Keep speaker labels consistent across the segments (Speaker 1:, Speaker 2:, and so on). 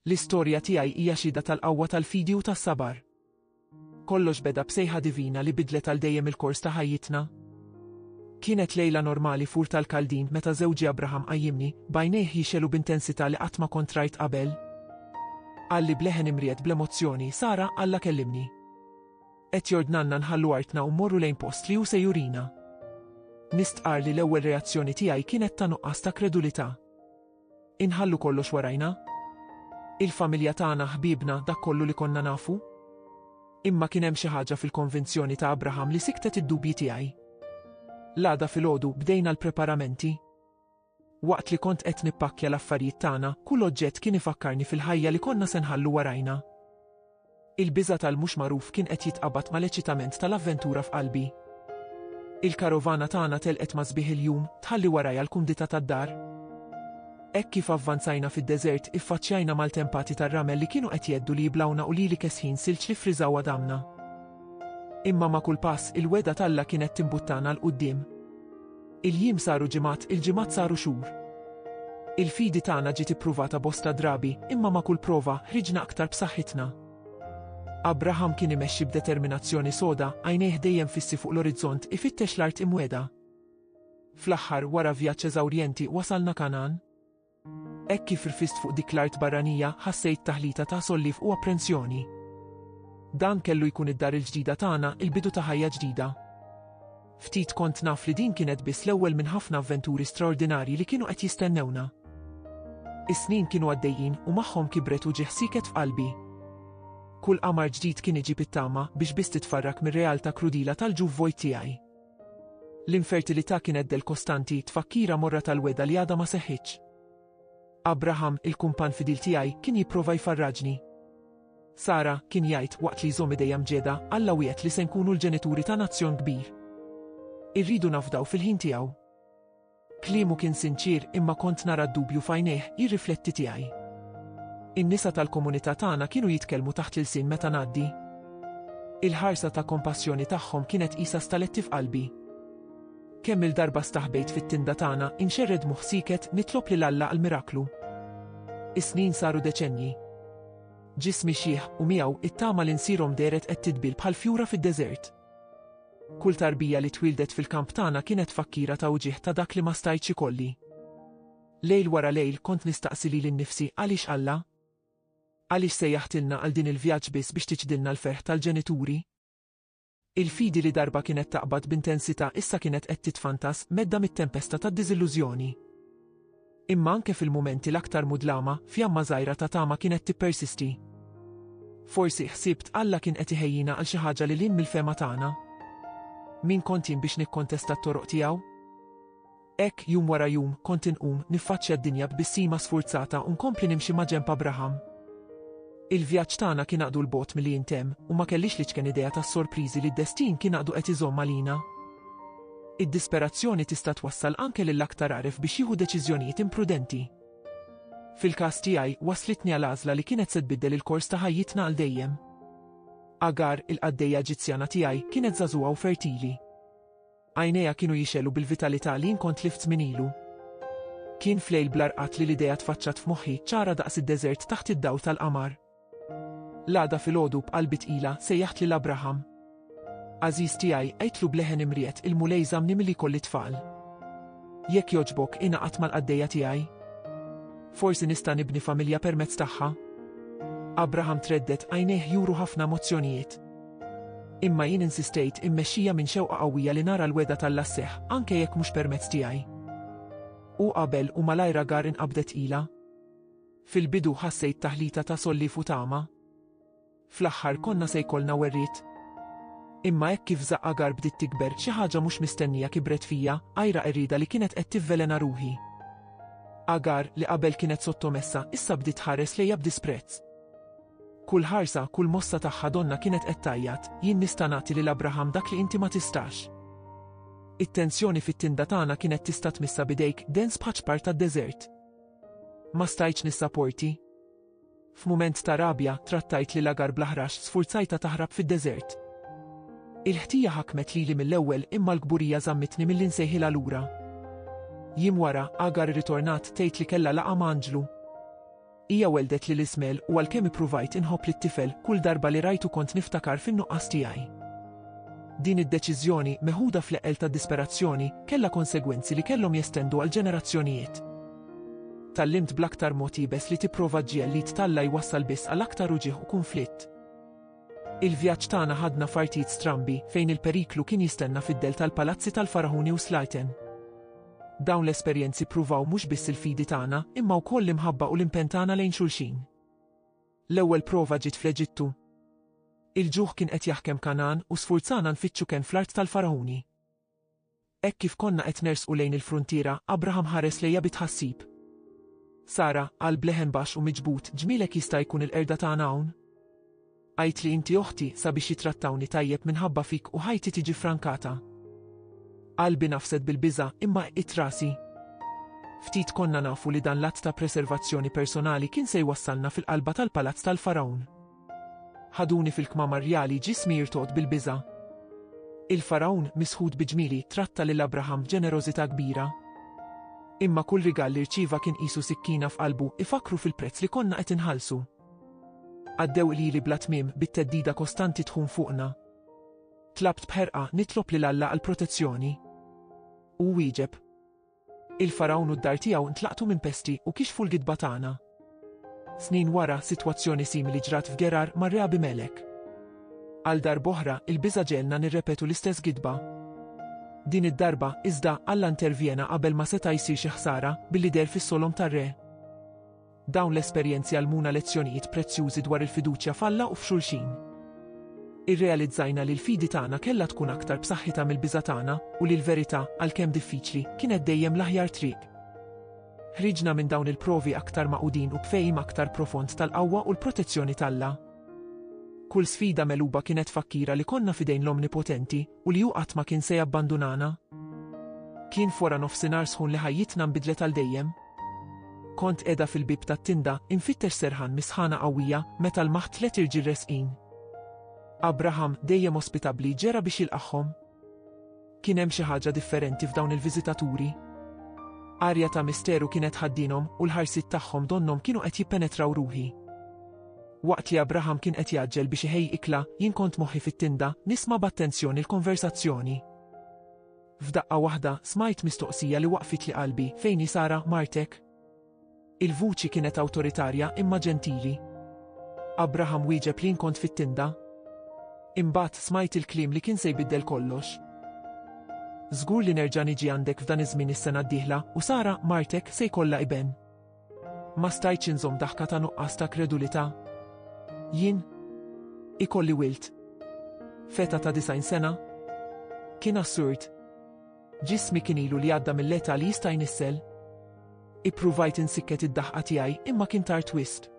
Speaker 1: L-istorja tiegħi hija xhieda tal-qawwa tal-fidi u tas-sabar. Kollox beda b'sejħa divina li bidlet għal dejjem il-kors ta' ħajjitna. Kienet lejla normali f'Ur tal-Kaldin meta żewġi Abraham qajjimni, b'għajnejh jixegħlu b'intensità li qatt ma kont rajt qabel. Qalli b'leħen imried bl-emozzjoni, Sara, Alla kellimni. Qed jordnanna nħallu artna u mmorru lejn post li hu se jurina. Nistqar li l-ewwel reazzjoni tiegħi kienet ta' nuqqas ta' kredulità. Inħallu kollox warajna? Il-familja tagħna, ħbiebna, dak kollu li konna nafu? Imma kien hemm xi ħaġa fil-konvinzjoni ta' Abraham li siktet id-dubji tiegħi. L-għada filgħodu bdejna l-preparamenti. Waqt li kont qed nippakkja l-affarijiet tagħna, kull oġġett kien ifakkarni fil-ħajja li konna se nħallu warajna. Il-biża' tal-mhux magħruf kien qed jitqabad mal-eċitament tal-avventura f'qalbi. Il-karovana tagħna telqet ma' sbieħ il-jum, tħalli warajha l-kumdità tad-dar. Hekk kif avvanzajna fid-deżert, iffaċċjajna maltempati tar-ramel li kienu qed jgħeddu li jiblgħuna u lili kesħin silġ li ffriżaw għadamna. Imma ma' kull pass, il-wegħda t'Alla kienet timbuttana 'l quddiem. Il-jiem saru ġimgħat, il-ġimgħat saru xhur. Il-fidi tagħna ġiet ippruvata bosta drabi, imma ma' kull prova, ħriġna aktar b'saħħitna. Abraham kien imexxi b'determinazzjoni soda, għajnejh dejjem fissi fuq l-orizzont, ifittex l-art imwegħda. Fl-aħħar, wara vjaġġ eżawrjenti, wasalna Kangħan. Hekk kif rfist fuq dik l-art barranija, ħassejt taħlita ta' solliev u apprensjoni. Dan kellu jkun id-dar il-ġdida tagħna, il-bidu ta' ħajja ġdida. Ftit kont naf li din kienet biss l-ewwel minn ħafna avventuri straordinarji li kienu qed jistennewna. Is-snin kienu għaddejjin u magħhom kibret u ġieħ sieket f'qalbi. Kull qamar ġdid kien iġib it-tama biex biss titfarrak mir-realtà krudila tal-ġuf vojt tiegħi. L-infertilità kienet del kostanti, tfakkira morra tal-wegħda li għadha ma seħħitx. Abraham, il-kumpann fidil tiegħi, kien jipprova jfarraġni. Sara, kien jgħid, waqt li jżomm idejha mġegħda, Alla wiegħed li se nkunu l-ġenituri ta' nazzjon kbir. Irridu nafdaw fil-ħin tiegħu. Kliemu kien sinċier imma kont nara d-dubju f'għajnejh jirrifletti tiegħi. In-nisa tal-komunità tagħna kienu jitkellmu taħt l-ilsien meta ngħaddi. Il-ħarsa ta' kompassjoni tagħhom kienet qisha staletti f'qalbi. Kemm-il darba staħbejt fit-tinda tagħna, inxerred moħħ sieket nitlob lil Alla għal miraklu. Is-snin saru deċennji. Ġismi xiħ u miegħu t-tama li nsirhom dehret qed tidbil bħal fjura fid-deżert. Kull tarbija li twieldet fil-kamp tagħna kienet tfakkira ta' wġigħ ta' dak li ma stajtx ikolli. Lejl wara lejl kont nistaqsi lili nnifsi għaliex Alla? Għaliex sejjaħtilna għal din il-vjaġġ biss biex tiċdilna l-ferħ tal-ġenituri? Il-fidi li darba kienet taqbad b'intensità issa kienet qed titfantas, medda mit-tempesta tad-diżillużjoni. Imma anke fil-mumenti l-aktar mudlama, fjamma żgħira ta' tama kienet tippersisti. Forsi, ħsibt, Alla kien qed iħejjina għal xi ħaġa lil hinn mill-fehma tagħna? Min kont jien biex nikkontesta t-toroq tiegħu? Hekk, jum wara jum, kont inqum, niffaċċja d-dinja b'bissima sfurzata u nkompli nimxi maġenb Abraham. Il-vjaġġ tagħna kien għaqdu 'l bogħod milli jintemm u ma kellix l-iċken idea tas-sorpriżi li d-destin kien għaqdu qed iżomm għalina. Id-disperazzjoni tista' twassal anke lill-aktar għaref biex jieħu deċiżjonijiet imprudenti. Fil-każ tiegħi, wasslitni għal għażla li kienet se tbiddel il-kors ta' ħajjitna għal dejjem. Agar, il-qaddejja Eġizzjana tiegħi, kienet żagħżugħa u fertili. Għajnejha kienu jixgħelu bil-vitalità li jien kont tlift minn ilu. Kien f'lejl bla rqad li l-idea tfaċċat f'moħħi, ċara daqs id-deżert taħt id-dawl tal-qamar. L-għada filgħodu b'qalbi tqila, sejjaħt lil Abraham. Għażiż tiegħi, għidtlu b'leħen imriegħed, il-Mulej żammni milli jkolli tfal. Jekk jogħġbok, ingħaqad mal-qaddejja tiegħi. Forsi nista' nibni familja permezz tagħha. Abraham treddet, għajnejh juru ħafna emozzjonijiet. Imma jien insistejt, immexxija minn xewqa qawwija li nara l-wegħda t'Alla sseħħ, anke jekk mhux permezz tiegħi. Hu qabel, u malajr Agar inqabdet ilha. Fil-bidu ħassejt taħlita ta' solliev u tama. Fl-aħħar konna se jkollna werriet. Imma hekk kif żaqq Agar bdiet tikber, xi ħaġa mhux mistennija kibret fija, għira qerrieda li kienet qed tivvelena ruħi. Agar, li qabel kienet sottomessa, issa bdiet tħares lejja b'disprezz. Kull ħarsa, kull mossa tagħha donnha kienet qed tgħajjat, Jien nista' nagħti lil Abraham dak li inti ma tistax. It-tensjoni fit-tinda tagħna kienet tista' tmissha b'idejk, dens bħaċ-ċpar tad-deżert. Ma stajtx nissaporti. F'mument ta' rabja, trattajt lil Agar bl-aħrax, sfurzajta taħrab fid-deżert. Il-ħtija ħakmet lili mill-ewwel imma l-kburija żammitni milli nsejħilha lura. Jiem wara, Agar ritornat tgħid li kellha laqa' ma' anġlu. Hija welldet lil Ismael u għalkemm ippruvajt inħobb lit-tifel, kull darba li rajtu kont niftakar fin-nuqqas tiegħi. Din id-deċiżjoni, meħuda fl-eqqel tad-disperazzjoni, kellha konsegwenzi li kellhom jestendu għal ġenerazzjonijiet. Tgħallimt bl-aktar mod iebes li tipprova ġġiegħel l-id t'Alla jwassal biss għal aktar uġigħ u kunflitt. Il-vjaġġ tagħna ħadna f'artijiet strambi, fejn il-periklu kien jistenna fid-dell tal-palazzi tal-faraħuni u slajten. Dawn l-esperjenzi ppruvaw mhux biss il-fidi tagħna, imma wkoll l-imħabba u l-impenn tagħna lejn xulxin. L-ewwel prova ġiet fl-Eġittu. Il-ġuħ kien qed jaħkem Kangħan u sfurzana nfittxu kenn fl-art tal-faraħuni. Hekk kif konna qed nersqu lejn il-fruntiera, Abraham ħares lejja bi tħassib. Sara, qalb leħen baxx u miġbud, ġmielek jista' jkun il-qerda tagħna hawn? Għidtli inti oħti sabiex jittrattawni tajjeb minħabba fik u ħajti tiġi frankata. Qalbi nafset bil-biża' imma qqitt rasi. Ftit konna nafu li dan l-att ta' preservazzjoni personali kien se jwassalna fil-qalba tal-palazz tal-Fargħun. Ħaduni fil-kmamar rjali ġismi jirtogħod bil-biża'. Il-Fargħun, misħut bi ġmieli, tratta lil Abraham b'ġenerożità kbira. Imma kull rigal li rċieva kien qisu sikkina f'qalbu, ifakkru fil-prezz li konna qed inħallsu. Għaddew lili bla tmiem, bit-theddida kostanti tħun fuqna. Tlabt b'ħerqa, nitlob lil Alla għall-protezzjoni. Hu wieġeb. Il-Fargħun u d-dar tiegħu ntlaqtu minn pesti u kixfu l-gidba tagħna. Snin wara, sitwazzjoni simili ġrat f'Gerar mar-Re Abimelek. Għal darb'oħra, il-biża' ġegħelna nirrepetu l-istess gidba. Din id-darba, iżda, Alla intervjena qabel ma seta' jsir xi ħsara, billi deher fis-solom tar-re. Dawn l-esperjenzi għallmuna lezzjonijiet prezzjużi dwar il-fiduċja f'Alla u f'xulxin. Irrealizzajna li l-fidi tagħna kellha tkun aktar b'saħħitha mill-biża' tagħna u li l-verità, għalkemm diffiċli, kienet dejjem l-aħjar triq. Ħriġna minn dawn il-provi aktar magħqudin u b'fehim aktar profond tal-qawwa u l-protezzjoni t'Alla. Kull sfida megħluba kienet tfakkira li konna f'idejn l-Omnipotenti u li hu qatt ma kien se jabbandunana. Kien f'wara nofsinhar sħun li ħajjitna nbidlet għal dejjem. Kont qiegħda fil-bieb tat-tinda, infittex serħan mis-sħana qawwija, meta lmaħt tliet irġiel resqin. Abraham, dejjem ospitabbli, ġera biex jilqagħhom. Kien hemm xi ħaġa differenti f'dawn il-viżitaturi. Arja ta' misteru kienet tħaddinhom u l-ħarsiet tagħhom donnhom kienu qed jippenetraw ruħi. Waqt li Abraham kien qed jgħaġġel biex iħejji ikla, jien kont moħħi fit-tinda, nisma' b'attenzjoni l-konversazzjoni. F'daqqa waħda, smajt mistoqsija li waqfitli qalbi, Fejn hi Sara, martek? Il-vuċi kienet awtoritarja imma ġentili. Abraham wieġeb li jien kont fit-tinda. Imbagħad smajt il-kliem li kien se jbiddel kollox. Żgur li nerġa' niġi għandek f'dan iż-żmien is-sena d-dieħla, u Sara, martek, se jkollha iben. Ma stajtx inżomm daħka ta' nuqqas ta' kredulità. Jien? Ikolli wild? F'età ta' disgħin sena? Kien assurd. Ġismi kien ilu li għadda mill-età li jista' jnissel. Ippruvajt insikket id-daħqa tiegħi imma kien tard wisq.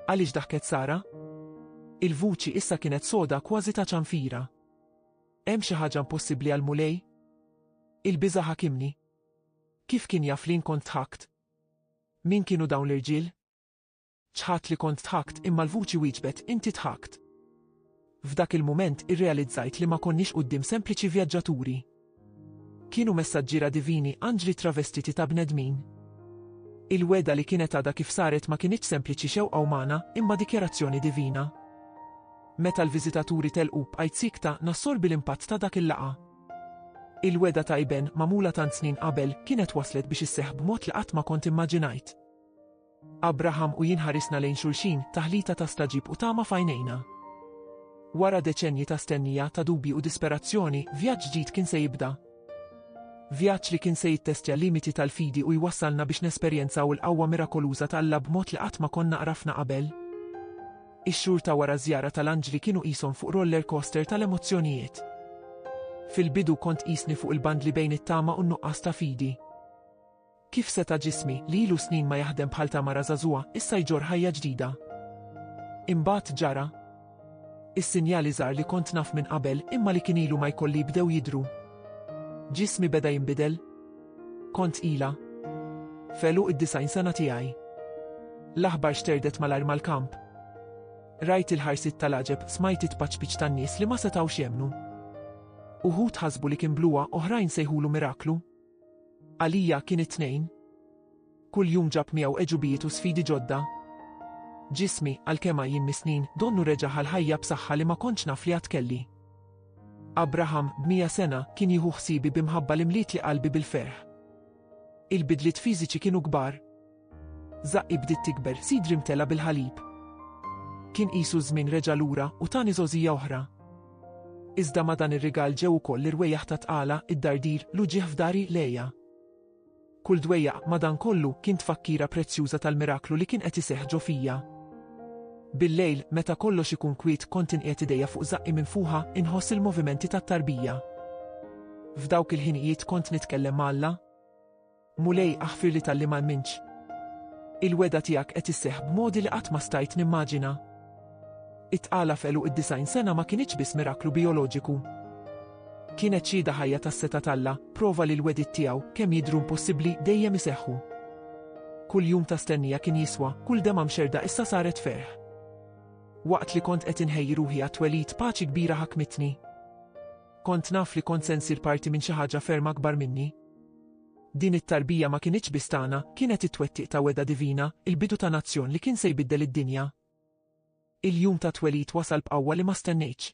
Speaker 1: Għaliex daħket Sara? Il-vuċi issa kienet soda kważi ta' ċanfira. Hemm xi ħaġa impossibbli għall-Mulej? Il-biża' ħakimni. Kif kien jaf li jien kont dħakt? Min kienu dawn l-irġiel? Ċħadt li kont dħakt imma l-vuċi wieġbet, Inti dħakt. F'dak il-mument irrealizzajt li ma konniex quddiem sempliċi vjaġġaturi. Kienu messaġġiera divini, anġli travestiti ta' bnedmin. Il-weda li kienet għada kif saret ma kienieċ sempliċi xewqa umana, imma dikjerazzjoni divina. Meta l-viżitaturi telqu b'qajt sikta nassorbi l-impatt ta' dak il-laqa. Il-wegħda ta' iben, magħmula tant snin qabel, kienet waslet biex isseħħ b'mod li qatt ma kont immaġinajt. Abraham u jien ħarisna lejn xulxin, taħlita ta' stagħġib u tama f'għajnejna. Wara deċennji ta' stennija, ta' dubji u disperazzjoni, vjaġġ ġdid kien se jibda. Vjaġġ li kien se jittestja l-limiti tal-fidi u jwassalna biex nesperjenzaw il-qawwa mirakoluża ta' Alla b'mod li qatt ma konna għrafna qabel. Ix-xhur ta' wara ż-żjara tal-anġli kienu qishom fuq roller coaster tal-emozzjonijiet. Fil-bidu kont qisni fuq il-bandli bejn it-tama u n-nuqqas ta' fidi. Kif seta' ġismi, li ilu snin ma jaħdem bħal ta' mara żagħżugħa, issa jġorr ħajja ġdida? Imbagħad ġara. Is-sinjali żgħar li kont naf minn qabel, imma li kien ilu ma jkolli bdew jidhru. Ġismi beda jinbidel. Kont ilha. F'għeluq id-disgħin sena tiegħi. L-aħbar xterdet malajr mal-kamp. Rajt il-ħarsiet tal-għaġeb, smajt it-tpaċpiċ tan-nies li ma setgħux jemmnu. Uħud ħasbu li kien bluha, oħrajn sejħulu miraklu. Għalija kien it-tnejn. Kull jum ġab miegħu għeġubijiet u sfidi ġodda. Ġismi, għalkemm għajjien mis-snin, donnu reġa' ħa l-ħajja b'saħħa li ma kontx naf li għad kelli. Abraham, b'mija sena, kien jieħu ħsiebi bi mħabba li mlietli qalbi bil-ferħ. Il-bidliet fiżiċi kienu kbar. Żaqqi bdiet tikber, sidri mtela bil-ħalib. Kien qisu ż-żmien reġa' lura u tani żgħożija oħra. Iżda ma' dan ir-rigal ġew ukoll l-irwejjaħ tat-tqala, id-dardir, l-uġigħ f'dari, l-għeja. Kull dwejjaq, madankollu, kien tfakkira prezzjuża tal-miraklu li kien qed iseħħ ġo fija. Billejl, meta kollox ikun kwiet, kont inqiegħed idejja fuq żaqqi minfuħa, inħoss il-movimenti tat-tarbija. F'dawk il-ħinijiet kont nitkellem ma' Alla. Mulej, aħfirli talli ma emminx. Il-wegħda tiegħek qed isseħħ b'modi li qatt ma stajt nimmaġina. It-tqala f'għeluq id-disgħin sena ma kinitx biss miraklu bijoloġiku. Kienet xhieda ħajja tas-setgħa t'Alla, prova li l-wegħdiet tiegħu, kemm jidhru impossibbli, dejjem iseħħu. Kull jum ta' stennija kien jiswa, kull demgħa mxerrda issa saret ferħ. Waqt li kont qed inħejji ruħi għat-twelid paċi kbira ħakmitni. Kont naf li kont se nsir parti minn xi ħaġa ferm akbar minni. Din it-tarbija ma kinitx biss tagħna, kienet it-twettiq ta' wegħda divina, il-bidu ta' nazzjon li kien se jbiddel id-dinja. Il-jum tat-twelid wasal b'qawwa li ma stennejtx.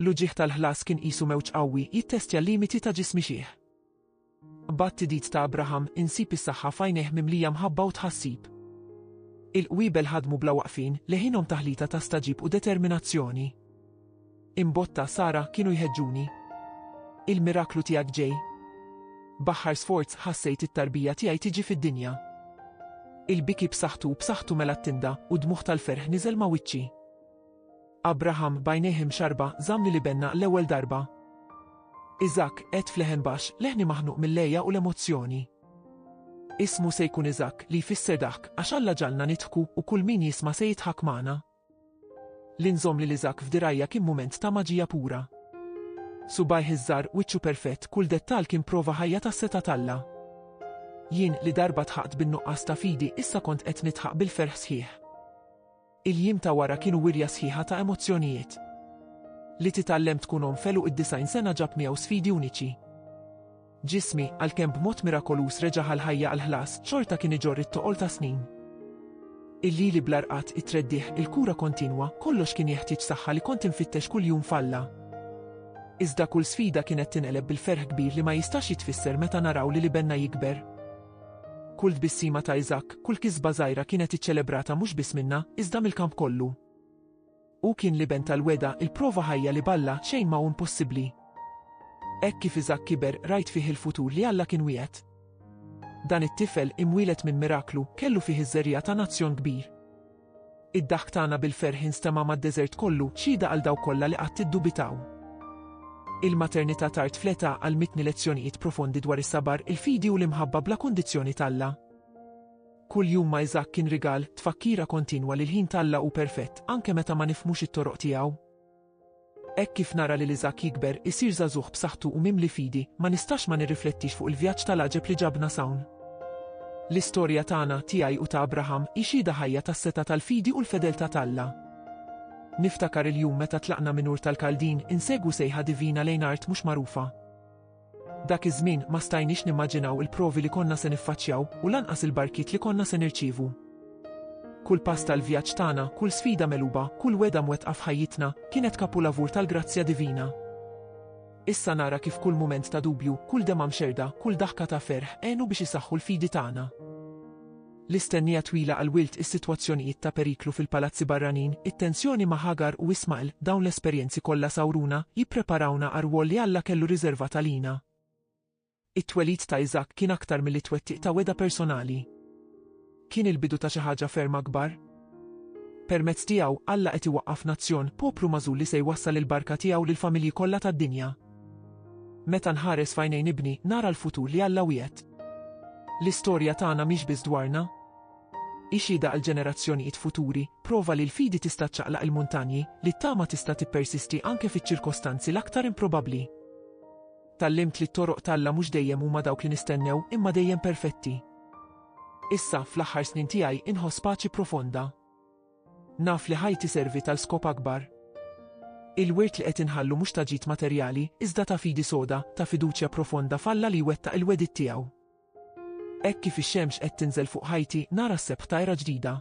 Speaker 1: L-uġigħ tal-ħlas kien qisu mewġ qawwi jittestja l-limiti ta' ġismi xiħ. B'għat-tidid ta' Abraham, insib is-saħħa f'għajnejh mimlija mħabba u tħassib. Il-qwiebel ħadmu bla waqfien, leħinhom taħlita ta' stagħġib u determinazzjoni. Imbotta, Sara, kienu jħeġġuni. Il-miraklu tiegħek ġej. B'aħħar sforz ħassejt it-tarbija tiegħi tiġi fid-dinja. Il-biki b'saħħtu b'saħħtu mela t-tinda u dmugħ tal-ferħ niżel ma' wiċċi. Abraham b'għajnejh imxarba żamm lil ibenna l-ewwel darba. Iżak, qed f'leħen baxx, leħni maħnuq mill-lejja u l-emozzjoni. Ismu se jkun Iżak li jfisser daħk għax Alla ġalna nidħku u kull min jisma' se jidħak magħna. Li nżomm lil Isaac f'dirgħajja kien mument ta' maġija pura. Subgħajh iż-żgħar, wiċċu perfett, kull dettall kien prova ħajja tas-setgħa t'Alla. Jien, li darba dħaqt bin-nuqqas ta' fidi, issa kont qed nidħaq bil-ferħ sħiħ. Il-jiem ta' wara kienu wirja sħiħa ta' emozzjonijiet. Li titgħallem tkun omm f'eluq id-disgħin sena ġab miegħu sfidi uniċi. Ġismi, għalkemm b'mod mirakoluż reġa' għall-ħajja għall-ħlas, xorta kien iġorr it-toqol ta' snin. Il-lili bla rqad, it-treddigħ, il-kura kontinwa, kollox kien jeħtieġ saħħa li kont infittex kuljum f'Alla. Iżda kull sfida kienet tinqeleb bil-ferħ kbir li ma jistax jitfisser meta naraw lil ibenna jikber. Kull tbissima ta' Isaac, kull kisba żgħira kienet iċċelebrata mhux biss minna, iżda mill-kamp kollu. Hu kien l-Iben tal-wegħda, il-prova ħajja li b'Alla xejn ma hu impossibbli. Hekk kif Iżakk kiber, rajt fih il-futur li Alla kien wiegħed. Dan it-tifel, imwieled minn miraklu, kellu fih iż-żerriegħa ta' nazzjon kbir. Id-daħk tagħna bil-ferħ instema' mad-deżert kollu, xhieda għal dawk kollha li qatt iddubitaw. Il-maternità tard fl-età għallmitni lezzjonijiet profondi dwar is-sabar, il-fidi u l-imħabba bla kundizzjoni t'Alla. Kull jum ma' Iżakk kien rigal, tfakkira kontinwa li l-ħin t'Alla hu perfett, anke meta ma nifhmux it-toroq tiegħu. Hekk kif nara lil Iżakk jikber, isir żagħżugħ b'saħħtu u mimli fidi, ma nistax ma nirriflettix fuq il-vjaġġ tal-għaġeb li ġabna s'hawn. L-istorja tagħna, tiegħi u ta' Abraham, hi xhieda ħajja tas-setgħa tal-fidi u l-fedeltà t'Alla. Niftakar il-jum meta tlaqna minn Ur tal-Kaldin, insegwu sejħa divina lejn art mhux magħrufa. Dak iż-żmien ma stajniex nimmaġinaw il-provi li konna se niffaċċjaw u lanqas il-barkiet li konna se nirċievu. Kull pass tal-vjaġġ tagħna, kull sfida megħluba, kull wegħda mwettqa f'ħajjitna, kienet kapulavur tal-grazzja divina. Issa nara kif kull mument ta' dubju, kull demgħa mxerrda, kull daħka ta' ferħ, għenu biex isaħħu l-fidi tagħna. l-istennija twila għall-wild, is-sitwazzjonijiet ta' periklu fil-palazzi barranin, it-tensjoni ma' Ħagar u Ismagħel, dawn l-esperjenzi kollha sawruna, jippreparawna għar-rwol li Alla kellu riżervat għalina. It-twelid ta' Iżakk kien aktar milli twettiq ta' wegħda personali. Kien il-bidu ta' xi ħaġa ferm akbar. Permezz tiegħu, Alla qed iwaqqaf nazzjon, poplu magħżul li se jwassal il-barka tiegħu lill-familji kollha tad-dinja. Meta nħares f'għajnejn ibni, nara l-futur li Alla wiegħed. L-istorja tagħna mhix biss dwarna. Hi xhieda għall-ġenerazzjonijiet futuri, prova li l-fidi tista' ċċaqlaq il-muntanji, li t-tama tista' tippersisti anke fiċ-ċirkostanzi l-aktar improbabbli. Tgħallimt li t-toroq t'Alla mhux dejjem huma dawk li nistennew, imma dejjem perfetti. Issa, fl-aħħar snin tiegħi, inħoss paċi profonda. Naf li ħajti servi tal skop akbar. Il-wirt li qed inħallu mhux ta' ġid materjali, iżda ta' fidi soda, ta' fiduċja profonda f'Alla li jwettaq il-wegħdiet tiegħu. Hekk kif ix-xemx qed tinżel fuq ħajti, nara s-sebħ ta' era ġdida.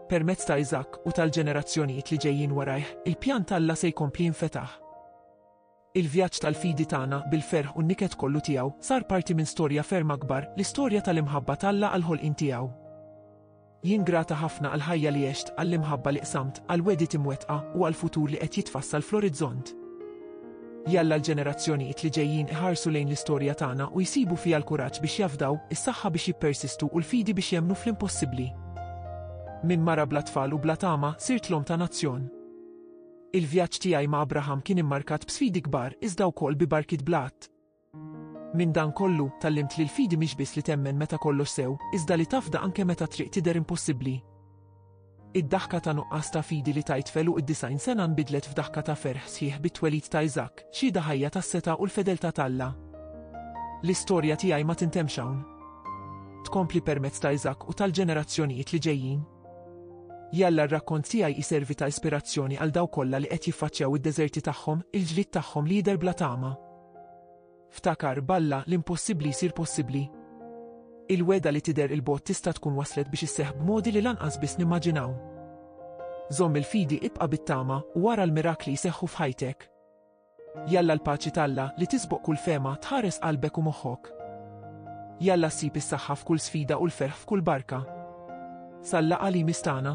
Speaker 1: Permezz ta' Iżakk u tal-ġenerazzjonijiet li ġejjin warajh, il-pjan t'Alla se jkompli jinfetaħ. Il-vjaġġ tal-fidi tagħna, bil-ferħ u n-niket kollu tiegħu, sar parti minn storja ferm akbar, l-istorja tal-imħabba t'Alla għall-ħolqien tiegħu. Jien grata ħafna għall-ħajja li għext, għall-imħabba li qsamt, għall-wegħdiet imwettqa, u għall-futur li qed jitfassal fl-orizzont. Jalla l-ġenerazzjonijiet li ġejjin iħarsu lejn l-istorja tagħna u jsibu fiha l-kuraġġ biex jafdaw, is-saħħa biex jippersistu u l-fidi biex jemmnu fl-impossibbli. Minn mara bla tfal u bla tama, sirt l-omm ta' nazzjon. Il-vjaġġ tiegħi ma' Abraham kien immarkat b'sfidi kbar iżda wkoll bi barkiet bl-għadd. Minn dan kollu, tgħallimt li l-fidi mhix biss li temmen meta kollox sew, iżda li tafda anke meta t-triq tidher impossibbli. Id-daħka ta' nuqqas ta' fidi li tajt f'għeluq id-disgħin sena nbidlet f'daħka ta' ferħ sħiħ bit-twelid ta' Iżakk, xhieda ħajja tas-setgħa u l-fedeltà t'Alla. L-istorja tiegħi ma tintemmx hawn. Tkompli permezz ta' Iżakk u tal-ġenerazzjonijiet li ġejjin. Jalla r-rakkont tiegħi jservi ta' ispirazzjoni għal dawk kollha li qed jiffaċċjaw id-deżerti tagħhom, il-ġlied tagħhom li jidher bla tama. Ftakar, b'Alla, l-impossibbli jsir possibbli. Il-wegħda li tidher 'il bogħod tista' tkun waslet biex isseħħ b'modi li lanqas biss nimmaġinaw. Żomm il-fidi, ibqa' bit-tama, u ara l-mirakli jseħħu f'ħajtek. Jalla l-paċi t'Alla, li tisboq kull fehma, tħares qalbek u moħħok. Jalla ssib is-saħħa f'kull sfida u l-ferħ f'kull barka. Sal-laqgħa li jmiss tagħna.